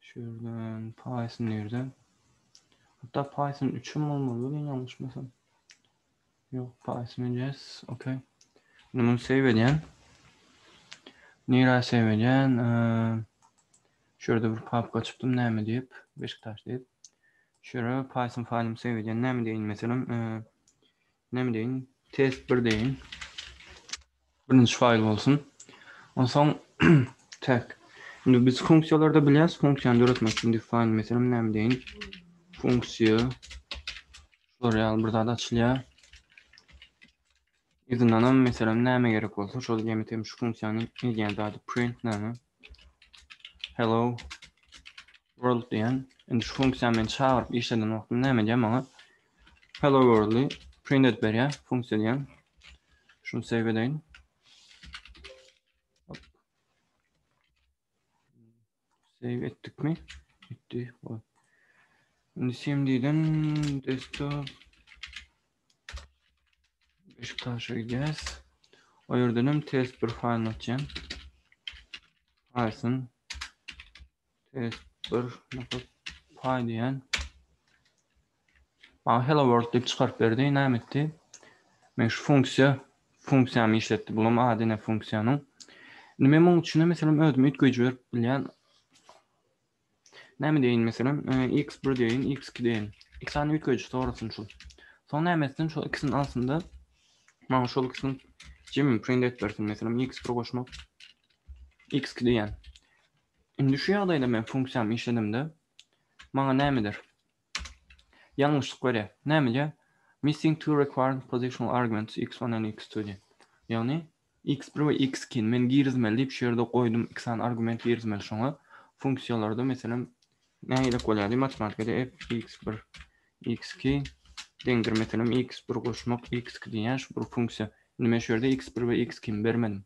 Şu ýerden Python nirden? Hatta Python 3 hem bolmaly welin ýalňyşmasam. Ýok, Python yes, okay. Indi muny save edýän. Nira save edýän. Şu ýerde bir papka açypdym, näme diýip, Beşiktaş diýip. Şu ýere Python faýlymy save edýän. Näme diýin meselem, Neme deýin? Test bir deýin. Birinji faýl bolsun. Onsoň tag. Indi biz funksiýalarda bilýäs, funksiýany döretmek üçin define meselem näme deýin? Funksiýa şular ýaly bir zat açylýar. Yzyndan hem meselem näme gerek bolsa, şol ýene hem şu funksiýanyň edýän zady print näme? Hello World diýýän. Indi şu funksiýany men çagyryp işleden wagtym näme edýär maňa? Hello world-y print edip berýär funksiýa diýýän. Şuny save edeýin. Save etdikmi? Etdi. Indi CMD-den desktop Beşiktaşa gidýäs. O ýerden hem test bir faýlyny açýan. Python Test bir nokat pay diýen. Bana hello world diýip çykaryp berdi. Näme etdi? Men şu funksiýa funksiýamy işletdi. Bulam ady ne funksiýanyň. Indi men munuň üçin meselem özüm üýtgeýji berip bilýän. Näme diýin meselem e, x1 diýin, x2 diýin. Iki sany üýtgeýji sorasyn şul. Soň näme etsin? Şol ikisini alsynda maňa şol ikisini jemini print et bersin. Meselem x1 goşmak x2 diýen. Indi şu ýagdaýda men funksiýamy işledemde, maňa nämedir ýalňyşlyk berýär. Nämeje? Missing two required positional arguments, x one and x two diýip. Ýagny, x bir we x ikini men girizmeli diýip şu ýerde goýdum, iki sany argument girizmeli şoňa. Funksiýalarda, meselem, näme gerek bolýardy? Matematikada f x bir, x iki deňdir, meselem, x bir goşmak x iki diýýär şu bir funksiýa. Indi men şu ýerde x bir we x ikimi bermedim.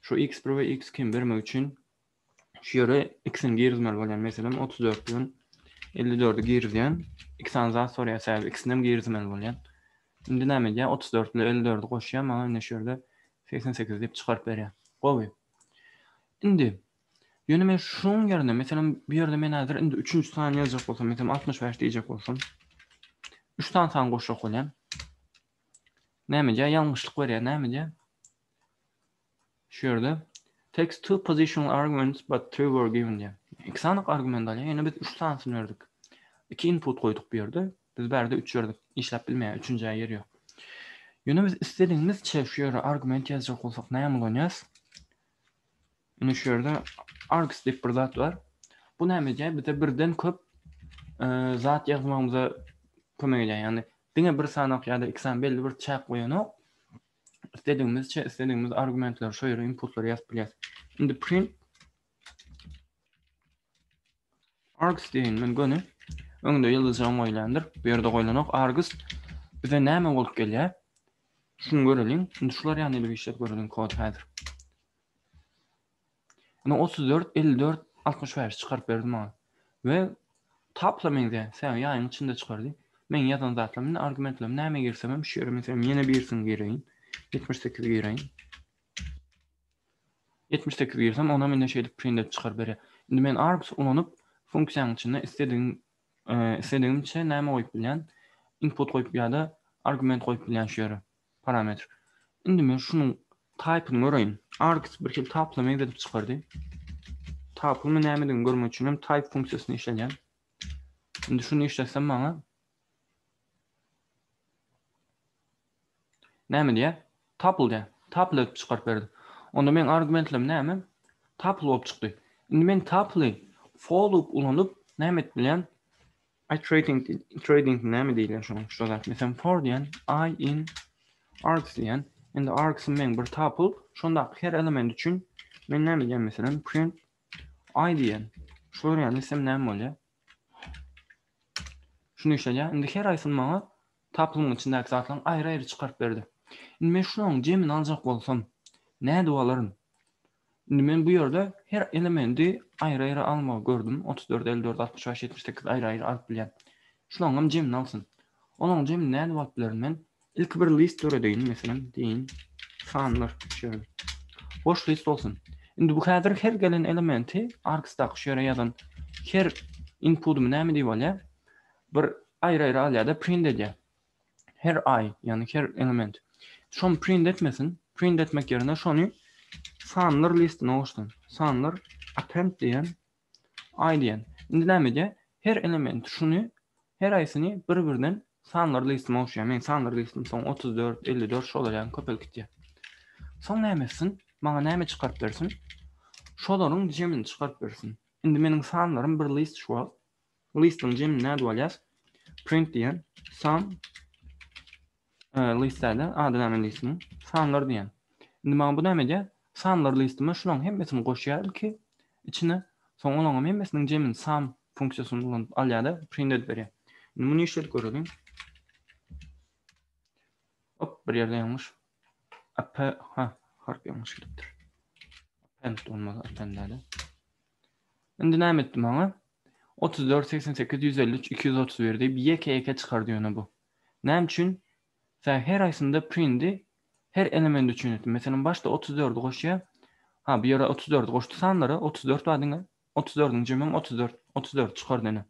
Şu x bir we x kim bermek üçin şu ýere ikisini girizmeli bolýan. Meselem, 34 bilen 54-i girizýän. Iki sany zat sorýar, sebäbi ikisini hem girizmeli bolýan. Indi näme edýär? 34 bilen 54-i goşýar, maňa indi şu ýerde 88 diýip çykaryp berýär. Gowy. Indi Ýöne men şuň ýerine, meselem, bu ýerde men häzir indi üçünji sany ýazjak bolsam, meselem, 65 diýjek bolsam, üç sany san goşjak bolýan. Nämedýär? Ýalňyşlyk berýär. Nämedýär? Şu ýerde takes two positional arguments but three were given diýär. Iki sanyk argument alýar, ýöne biz üç sanysyny berdik. Iki input goýduk bu ýerde. Biz bärde üç berdik. Işläp bilmeýär, üçünjä ýer ýok. Ýöne biz istedigiňizçe şu ýere argument ýazjak bolsak näme ulanýas? Ine şu ýerde args diýip bir zat bar. Bu näme edýär? Bize birden köp zat ýazmagymyza kömek edýär. Ýagny diňe bir sanok ýa-da iki san belli bir çäk goýanok. Isledigimizçe, isledigimiz argumentleri şu ýere inputlary ýazyp bilýäris. Indi print args diýen men göni öňde ýyldyzjam goýlandyr. Bu ýerde goýlanok. Args bize näme bolup gelýär? Şuny göreliň. Indi şular ýany bir işlep göreliň kod häzir. Indi otuz dört, elli dört, altmyş bäş çykaryp berdi maňa. We tapla meňzeýär. Sähel ýaýyň içinde çykardy. Meň ýazan zatlarym indi argumentlerim näme girsem hem şu ýere meselem ýene birisini gireýin. Ýetmiş sekizi gireýin. Ýetmiş sekizi girsem onam indi şeýdip print edip çykaryp berýär. Indi men args ulanyp funksiýanyň içinde isledigiň e, isledigimçe näme goýup bilýän? Input goýup ýa-da argument goýup bilýän şu ýere. Parametr. Indi men şunuň taýpyny göreýin. Argc birhili taplama ýigredip çykardy. Taplama nämedigini görmek üçin hem type funksiýasyny işledýän. Indi şuny işletsem maňa näme diýýär? Tuple diýýär. Tuple edip çykaryp berdi. Onda men argumentlerim näme? Tuple bolup çykdy. Indi men tuple for loop ulanyp näme edip bilýän? I trading trading näme diýilýär şoň şu zat. Meselem for diýen I in args diýen. Indi args men bir tuple şonda her element üçin men näme diýen meselem print I diýen. Şu ýany isem näme bolýar? Şunu işleýär. Indi her aýsyn maňa taplyň içindäki zatlaryň aýry-aýry çykaryp berdi. Indi men şunuň jemini aljak bolsam, nädip alaryn? Indi men bu ýerde her elemendi aýry-aýry almagy gördüm, otuz dört, elli dört, altmyş bäş, ýetmiş sekiz aýry-aýry alyp bilýän. Şulaňam jemini alsyn. Olaň jemini nädip alyp bilerin men? Ilki bir list döredeýin, meselem, diýin, sanlar, üçe. Boş list bolsun. Indi bu häzir her gelen elementi argsdaky şu ýere ýazan her inpudymy näme diýip alýar? Bir aýry-aýry alýar-da, print edýär. her aý, ýagny her element şony print etmesin, print etmek ýerine şony sanlar listine goşsun. Sanlar append diýen, aý diýen. Indi näme edýär? Her element şuny her aýsyny bir-birden sanlar listime goşýar. Men sanlar listim soň 34, 54 şolar ýaly köpelip gitýär. Soň näme etsin? Maňa näme çykaryp bersin? Şolaryň jemini çykaryp bersin. Indi meniň sanlarym bir list şu wagt Listiniň jemini nädip alýas? Print diýen san list däl-de, ady näme listiniň? Sanlar diýen. Indi maňa bu näme edýär? Sanlar listime şularyň hemmesini goşýaryn ki, içine soň olaryň hem hemmesiniň jemini sum funksiýasyny ulanyp alýar-da, print edip berýär. Indi muny işledip göreliň. Hop, bir ýerde ýalňyş. Ap, ha, harp ýalňyş gidipdir. Append bolmaly, append däl-de. Indi näme etdi maňa? Otuz dört, segsen sekiz, ýüz elli üç, iki ýüz otuz bir diýip, ýeke-ýeke çykardy ýöne bu. Näme üçin? Sä her aýsynda prindi her element üçin etdi. Meselem, başda otuz dördi goşýa. Ha, bu ýere otuz dördi goşdy sanlara, otuz dört bar diňe. Otuz dördüň jemem otuz dört. Otuz dördi çykardy ene.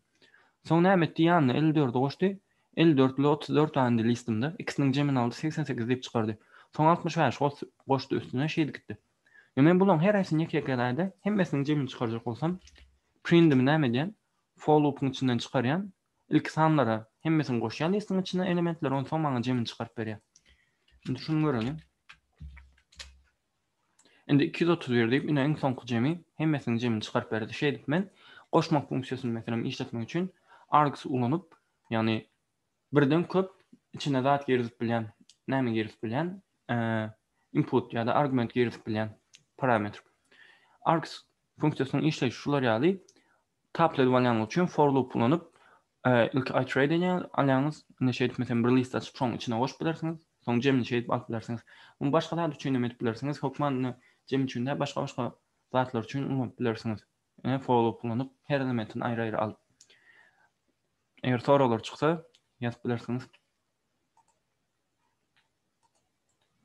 Soň näme etdi? Ýanyna elli dördi goşdy. Elli dört bilen otuz dört bar indi listimde. Ikisiniň jemini aldy, segsen sekiz diýip çykardy. Soň altmyş bäş goşdy üstüne, şeýdip gitdi. Ýöne men bularyň heresini ýeke-ýekeräde hemmesiniň jemini çykarjak bolsam, prindimi näme edýän, for lupyň içinden çykarýan, ilki sanlara hemmesini goşýan listiň içine elementleri, onsoň maňa jemini çykaryp berýär. Indi şuny göreliň. Indi iki ýüz otuz bir diýip, ine iň soňky jemi hemmesiniň jemini çykaryp berdi. Şeýdip men goşmak funksiýasyny meselem işletmek üçin args ulanyp, ýagny birden köp içine zat girizip bilýän, näme girizip bilýän, input ýa-da argument girizip bilýän parametr. Args funksiýasynyň işleýşi şular ýaly. Tapl edip alýanyň üçin for loop ulanyp, ilki iterate edýän, alýaňyz, indi şeýdip meselem bir list açyp şoň içine goşup bilersiňiz, soň jemini şeýdip alyp bilersiňiz. Muny başga zat üçin hem edip bilersiňiz, hökman jemi üçin däl, başga-başga zatlar üçin ulanyp bilersiňiz. Ine, follow ulanyp, her elementini aýry-aýry al. Eger soraglar çyksa, ýazyp bilersiňiz.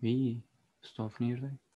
Wiý, stop nirde?